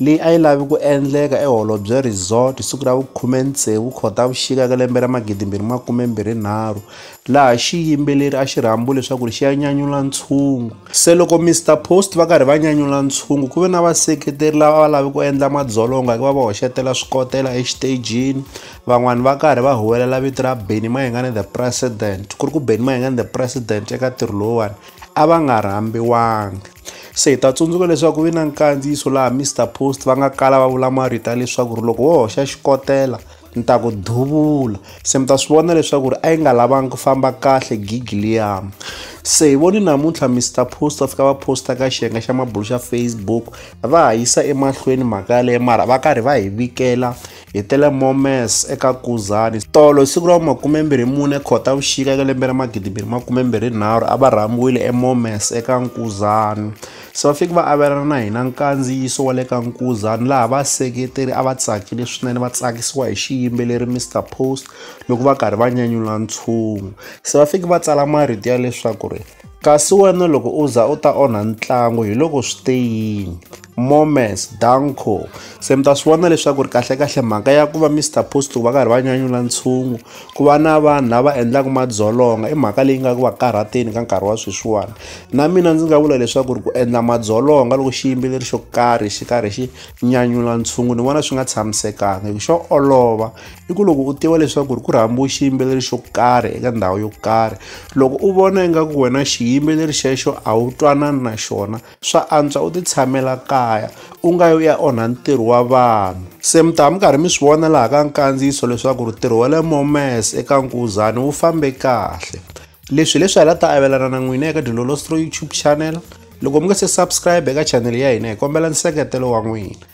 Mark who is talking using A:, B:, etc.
A: leyi a yi lavi ku endleka eHolobye Resort hi siku ra vu 16 Khotavuxika ka lembe ra 2023, laha xiyimbeleri a xi rhambiwe leswaku ri xi ya nyanyula ntshungu. Se loko Mister Post va karhi va nyanyula ntshungu, ku ve na vaseketeri lava a va lavi ku endla madzolonga hikuva va hoxetela swikotela exitejini, van'wana va karhi va huwelela vito ra Benny Mayengani The President, ku ri ku Benny Mayengani The President eka ntirho lowuwani a va nga rhambiwanga. se hi ta tsundzuka leswaku vi na nkandziyiso laha mr post va nga kala va vula marito ya leswaku ri loko wo hoxa xikotela ni ta ku duvula se mi ta swi vona leswaku ri a yi nga lavangi ku famba kahle gigi liyama se hi voni namuntlha mr post va fika va posta ka xiyenge xa mabulo xa facebook va ha yisa emahlweni mhaka yaleyo mara va karhi va hi vikela hi tele momes eka kuzani tolo hi siku ra vu-24 khotavuxika eka lembe ra 2023 a va rhambiwile emomes eka nkuzani se va fike va avelana na hina nkandziyiso wa le ka nkuzani laha vaseketeri a va tsakile swinene va tsakisiwa hi xiyimbeleri mr post loko va karhi va nyanyula ntshungu se va fike va tsala marito ya leswaku ri Kasi wena loko u za u ta onha ntlangu hi loko swi te yini? Moments, Danko. Se mi ta swi vona leswaku ri kahlekahle mhaka ya ku va Mr Post ku va karhi va nyanyula ntshungu ku va na vanhu lava endlaka madzolonga i mhaka leyi nga ku va karhateni ka nkarhi wa sweswiwani na mina ndzi nga vula leswaku ri ku endla madzolonga loko xiyimbeleri xo karhi xi karhi xi nyanyula ntshungu ni vona swi nga tshamisekanga hi ku xo olova i ku loko u tiva leswaku ri ku rhambiwe xiyimbeleri xo karhi eka ndhawu yo karhi loko u vona ingaku wena xiyimbeleri xexo a wu twanani na xona swa antswa u ti tshamela kaya u nga yo ya onha ntirho wa vanhu se mi ta mi karhi mi swi vona laha ka nkandziyiso leswaku ri ntirho wa le momes eka nkuzani wu fambe kahle leswi leswi hala ta avelana na n'wina eka dilolostro youtube channel loko mi nga se subscribe eka chanele ya hina hi kombela nseketelo wa n'wina